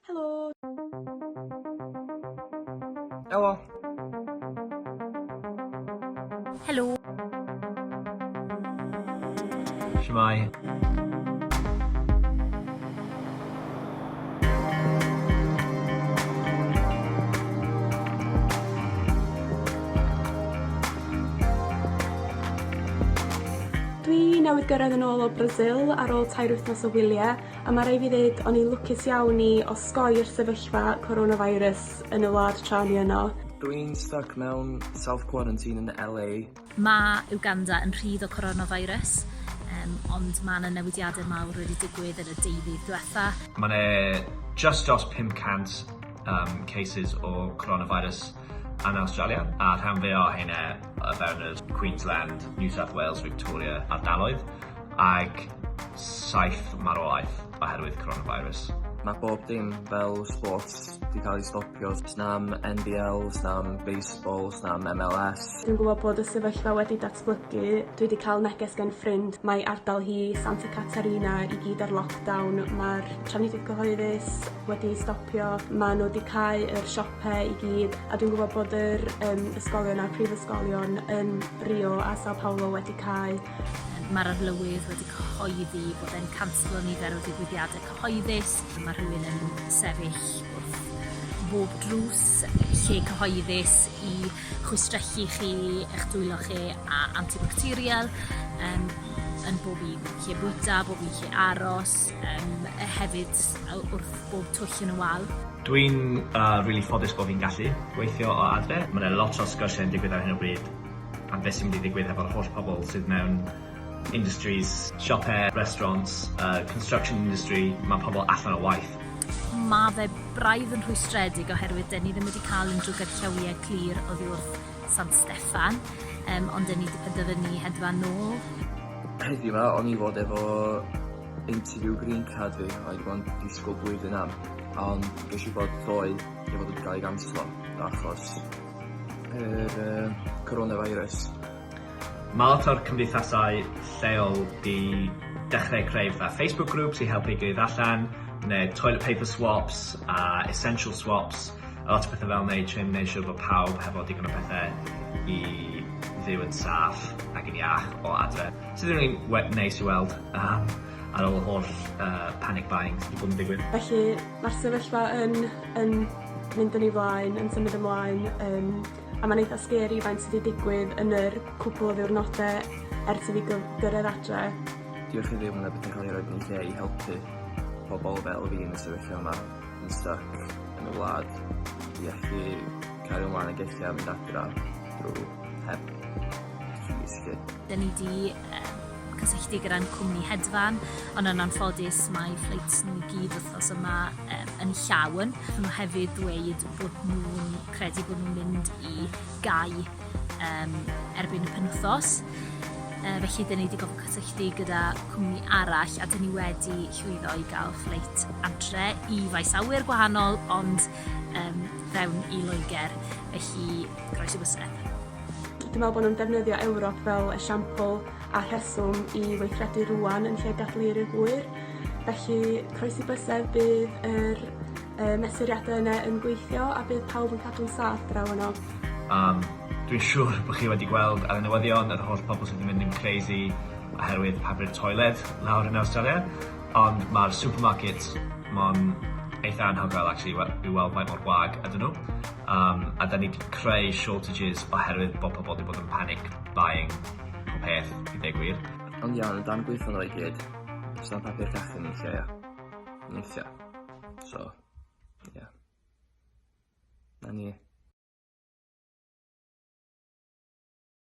Helo! Helo! Helo! Shwmae! Dwi newydd gyrraedd yn ôl o Brasil ar ôl tair wythnos o wyliau. A ma' rai' fi ddeud o'n i'n lwcus iawn i osgoi'r sefyllfa coronavirus yn y wlad tra o'n i yno. Dw i'n styc mewn self quarantine yn LA. Mae Uganda yn rhydd o coronavirus, yym, ond ma' 'na newidiade mawr wedi digwydd yn y deuddydd dwetha. Ma' 'na jyst dros 500 yym cases o coronavirus yn Awstralia, a rhan fwya o heine o fewn yr Queensland, New South Wales, Victoria ardaloedd, ag saith marwolaeth oherwydd coronavirus. Mae bob dim fel sports 'di cael ei stopio, sna'm NBL, sna'm baseball, sna'm MLS. Dwi'n gwybod bod y sefyllfa wedi datblygu, dwi 'di cael neges gan ffrind mai ardal hi, Santa Catarina, i gyd ar lockdown, mae'r trafnidiaeth gyhoeddus wedi ei stopio, maen nhw 'di cau yr siopau pe i gyd a dwi'n gwybod bod yr um, ysgolion a'r prifysgolion yn Rio a Sao Paulo wedi cael Mae'r arlywydd wedi cyhoeddi bod e'n canslo nifer o digwyddiadau cyhoeddus. Mae rhywun yn sefyll wrth bob drws lle cyhoeddus i chwistrellu chi, eich dwylo chi a antibacterial um, yn bob un lle bwyta, bob un lle aros. Yym hefyd wrth bob twll yn y wal. Dwi'n rili ffodus bo fi'n gallu gweithio o adre. Ma' 'na lot o sgyrsiau yn digwydd ar hyn o bryd am beth sy'n mynd i ddigwydd hefo'r holl pobl sydd mewn industries, siope, restaurants, yy construction industry, ma' pobl allan o waith. Ma' fe braidd yn rhwystredig oherwydd 'dyn ni ddim wedi ca'l unrhyw gynllawiau clir oddi wrth San Steffan yym ond 'dyn ni 'di penderfynu hedfan nôl. Heddiw 'ma o'n i fod efo interview green card fi a wedi bo' yn disgwl blwyddyn am ond gesh i wbod ddoe ei fod wedi ga'l ei ganslo achos yr yym corona virus. Ma' lot o'r cymdeithasau lleol 'di dechre creu fatha Facebook groups i helpu'i gilydd allan ne' toilet paper swops a essential swops. A lot o pethe fel 'ny i trio neu' siwr bo' pawb hefo digon o pethe i fyw yn saff ac yn iach o adre. Sydd yn rili we- neis i weld yym ar ôl y holl yy panic buying sy 'di bod yn digwydd. Felly ma'r sefyllfa yn yn mynd yn ei flaen yn symud ymlaen yym a ma'n eitha sgeri faint sy 'di digwydd yn yr cwpwl o ddiwrnode ers i fi gy- gyrredd adre. Diolch i Dduw ma' 'na bethe ca'l 'u roid yn eu lle i helpu pobol fel fi yn y sefyllfa 'ma. yn styc yn y wlad i allu cario mlaen ag eisiau a mynd adra drwy heb risgu. Dyn ni di um, cysylltu gyda'n cwmni hedfan, ond yn anffodus mae ffleits nhw i gyd wythnos yma um, yn llawn. Mae hefyd dweud bod nhw'n credu bod nhw'n mynd i gau um, erbyn y penwthos. Uh, felly, dyn ni wedi gofyn cysylltu gyda cwmni arall a dyn ni wedi llwyddo i gael ffleit antre i faes awyr gwahanol ond um, fewn i Loegr. Felly, groes i bysedd. Dwi'n meddwl bod nhw'n defnyddio Ewrop fel esiampl a rheswm i weithredu rwan yn lle gadlu i'r hwyr. Felly, croesi bysedd bydd yr y mesuriadau yna yn gweithio a bydd pawb yn cadw'n saff draw yno. Um, dwi'n siŵr bod chi wedi gweld ar y newyddion yr holl pobl sydd yn mynd yn crazy oherwydd papur toiled lawr yn Awstralia, ond mae'r supermarkets mon eitha anhygoel actually i weld faint mor wag ydyn nhw. Um, a da ni wedi creu shortages oherwydd bod pobl wedi bod yn panic buying o peth, i ddeg gwir. Ond iawn, yn dan gweithio nhw i gyd, os dan papur cachu ni'n lle, ni'n lle. So, ie. 'Na ni.